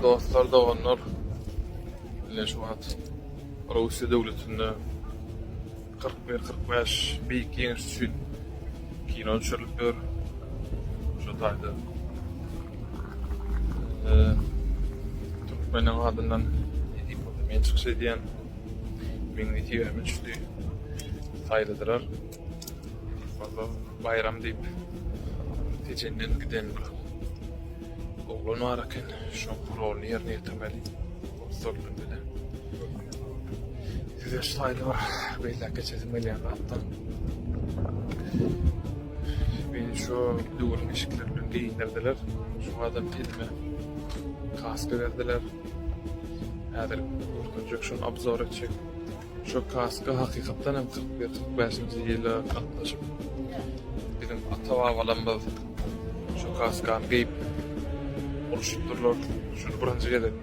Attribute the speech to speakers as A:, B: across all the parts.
A: Dostlar, doganlar, ine şu wagt Russiýa döwletinde kyrk bir, kyrk bäş beýik ýeňiş üçin kino düşürilip ýör. Şu taýda türkmeniň adyndan men çykyş edýän. Meň wekilime düşdi. Saýladylar. Walla baýram diýip tejenden giden bir oglan bar eken. Şoň roluny ýerine ýetirmeli. Ussat bilen. Size şu taýda bir beýläk geçesim gelýän zatda. Meni şu döwrüň eşikleri bilen geýindirdiler. Şu adam telime kaska berdiler. Häzir görkezjek şony obzor etjek. Şu kaska hakykatdan hem kyrk bir kyrk bäşinji ýyla gatnaşyp biziň ata babalarymyz şu kaskany geýip urşupdyrlar. Şuny birinji gezek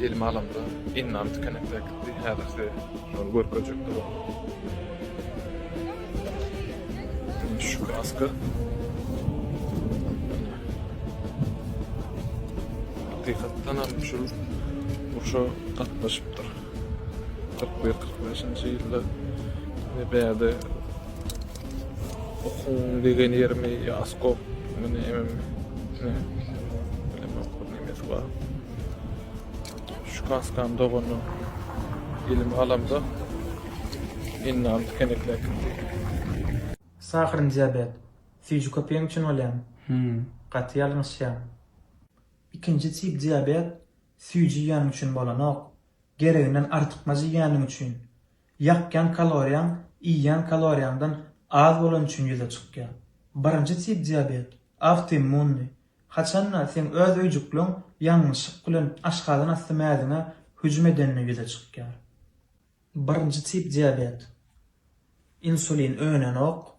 A: elime alamda indam tikenekde äkitdi. Häzir size şony görkezjek boldum. Indi şu kaska hakykatdan hem şul urşa gatnaşypdyr. Kyrk bir, kyrk beşinji ýylda meni bärde okuň degen ýerimi ýaskok, meni emem bilemok bir nemesi bar. Şu kaskam dogany elime alamda indi alyp kenekläp gitdi.
B: Sahryn diabet. Süýji köpeýen üçin bolýamy? Gaty ýalňyşýaň. Ikinji tip diabet Süýji iýeniň üçin bolanok. Gereginden artykmaç iýeniň üçin. Ýakýan kaloriýaň iýýän kaloriýaňdan az bolany üçin ýüze çykýar. Birinji tip diabet, awtoimmunnyý. Haçan-da seň öz öýjükleň ýalňyşlyk bilen aşgazan asty mäziňe hüjüm edende ýüze çykýar. Birinji tip diabet. Insulin önenok.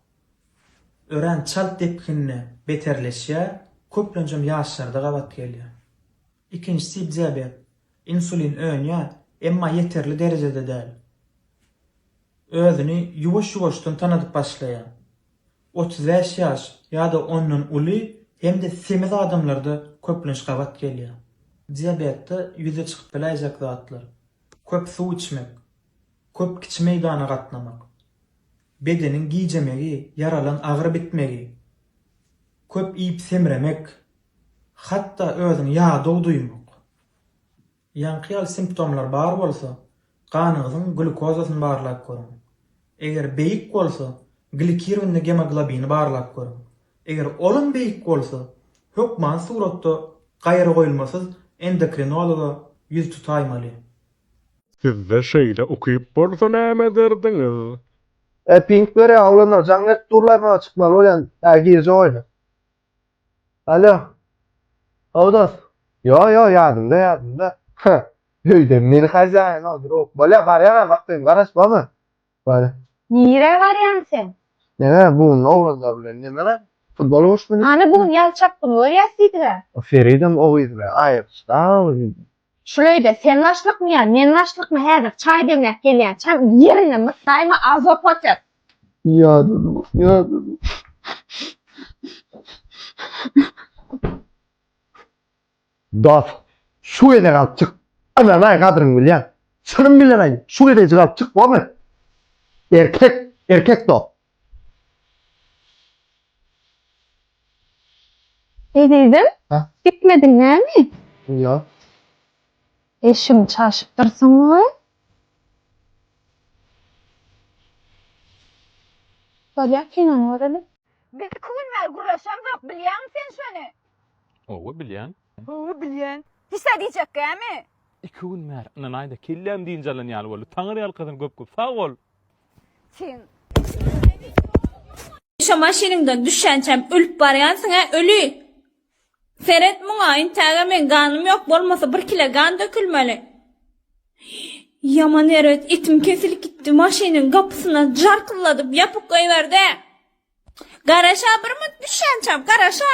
B: Örän çalt depginde beterleşýär, köplenjem ýaşlarda gabat gelýär. Ikinji tip diabet. Insulin önýär, emma ýeterli derejede däl. Özüni ýuwaş-ýuwaşdan tanadyp başlaýar. Otuz bäş ýaş ýa-da ondan uly hem-de semiz adamlarda köplenç gabat gelýär. Diabetde ýüze çykyp biläýjek zatlar, köp suw içmek, köp kiçi meýdana gatnamak, bedeniň gijemegi, ýaralan agyry bitmegi, köp iýip-semremek, Hatda özüňi ýadaw duýmak. Ýaňky ýaly simptomlar bar bolsa, ganyňyzyň glýukozasyny barlap görüň. Eger beýik bolsa, glikirowny gemoglobini barlap görüň. Eger olam beýik bolsa, hökman suratda gaýragoýulmasyz endokrinologa ýüz tutaýmaly.
C: Sizde şeýle ukyp bolsa näme ederdiňiz? Äpinç
D: görä oglanlar jaň berip durlar maňa çykmaly bolýan gije oýna. Alo. How dos. Ýo ýo ýadymda ýadymda. Hä. Öýde men hajaýyn ol druk. Bolýa barýan a bak sen garaş bolma. Bary. Nirä
E: barýaň sen. Neme bugün
D: oglanlar bilen neme futbol uruşmyny. Hany bugün ýazşak güni
E: görýäs diýdigä. O Feridem o
D: gyz bilen aýrylyşda. Şuleýde sen
E: başlykmy ýa men başlykmy häzir çaý demläp gelýän çaň ýerinde mysaýma azob otyr. Ýadadym
D: ýadadym. Dost şu gezek alyp çyk ynanaý gadryňy bilýän çynym bilenaý şu gezejik alyp çyk bolmy erkek erkek dost.
E: Ezizim, gitmediň
D: näme? Ýok.
E: Eşigiňi çalşyp dursuň-a? Bolýar, kinoňy göreli. Biz iki gün bäri gürleşemzok, bilýäňmi sen şony? Hawa, bilýän.
F: Hawa, bilýän.
E: Hiç-ä diýjek gämi? Iki gün bäri,
F: ynanaý-da, kelläm dynç alan ýaly boldy. Taňyrýalkasyn köp-köp sag bol! Sen
G: Şu maşynyňdan düşýänçäm ölüp barýansyň-a, öli! Seret muňa, intäge meň ganym ýok, bolmasa bir kile gan dökülmeli. Ýaman erbet etim kesilip gitdi, maşynyň gapysyna jarkylladyp ýapyp goýberdi. Garaş-a, bir münt düşýänçäm, garaş-a!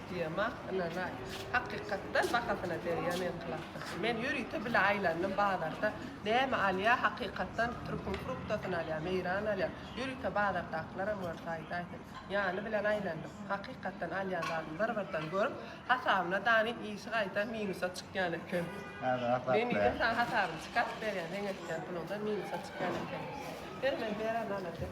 H: Diýemok, ynanaý. Hakykatdan bahasyna degýän enklapdyr. Men ýörite bile aýlandym bazarda näme alýa hakykatdan türküň fruktasyny alýa, meýran alýa. Ýörite bazardakylaram görse aýdaýsyn. Ýany bilen aýlandym. Hakykatdan alýan zadymy bir-birden görüp, hasabyna danyp işi gaýta minusa çykýan eken. Men diýdim saňa hasabyny çykaryp berýän, seň etýän puluňdan minusa çykýan eken. Ber men beren alajak.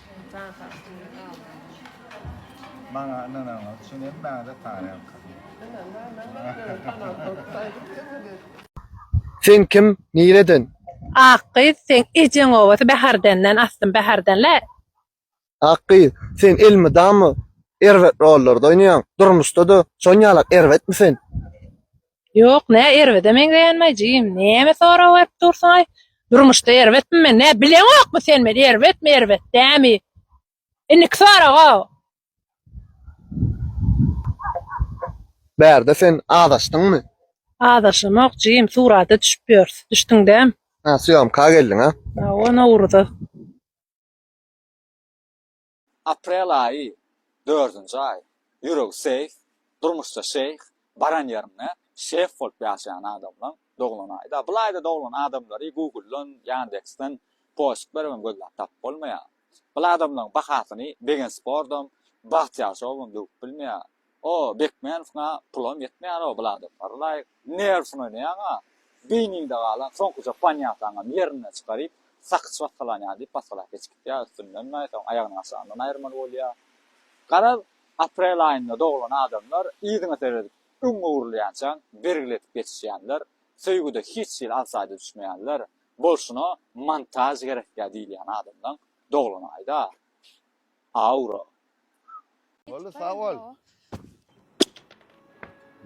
H: Tans
I: astynda galdyň. Maňa ynanaňyz üçin
D: hemmäňize tarelka. Sen kim, nireden? Ak gyz,
J: seň ejeň obasy Bäherdenden, aslym Bäherdenli. Ak
D: gyz, sen elmydama erbet rollarda oýnaýaň, durmuşda-da şon ýalak erbetmi sen? Ýok,
J: nä erbede meňzeýänmi-aý, jigim, näme sorag berip dursuň-aý? Durmuşda erbetmi men, nä, bileňokmy sen meni, erbetmi, erbet dämi? Indiki sorag-ow!
D: Bärde sen azaşdyňmy? Azaşamok,
J: jigim, surata düşüp ýörüs. Düşdüň däm? Hä, sýomka
D: geldiň-a? Hawa, Nowruza.
K: Aprel aýy, dördünji aý. Ýüregi seýh, durmuşda şeýh, baran ýerinde şef bolup ýaşaýan adamlaň doglan aýy-da. Bul aýda doglan adamlary Google-dan, Ýandeks-den, poşt berip hem gözläp tapyp bolmaýar. Bul adamlaň bahasyny Begensportdam, Bagtyýar şowam döwüp bilmeýär. O Bekmänowyň-a pulam ýetmeýär-ow Bladofary laýyk. Nerwsyny oýnaýaň-a. Beýniňde galan soňkuja panýataňam ýerinden çykaryp, sakyç basgalanýa diýip basgalap geçip gidýär, üstündenm-ä soň aýagynyň aşagyndan aýyrmaly bolýa. Garaz, aprel aýynda doglan adamlar yzyňa seredip öň öwrülýänçäň bergiletip geçişýänler, söýgüde hiç hili alsaýda düşmeýänler, bolşuna montaž gerekýä diýilýän adamlaň doglany gaýda? Aura. Boldy
I: sag bol.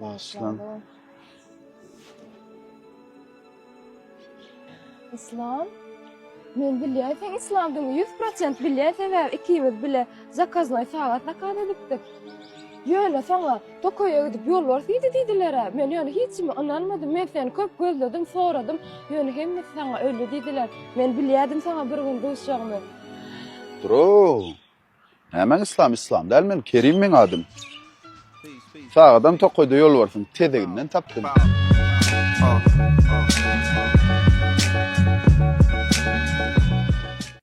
I: Başlan.
E: Islam. Men bilýän sen islamdyň 100% bilýän sebäbi ikimiz bile zakaznaý sagat zakaz edipdik. Ýöne saňa tokaýa gidip ýolbars iýdi diýdiler-ä. Men ýöne hiç kime ynanmadym. Men seni köp gözledim, soradym. Ýöne hemmesi saňa öldi diýdiler. Men bilýädim saňa bir gün duşjagymy. Bro.
L: Nämäň islam islam däl men Kerim meň adym. Sag adam tokaýda ýolbarsyň tezeginden tapdym.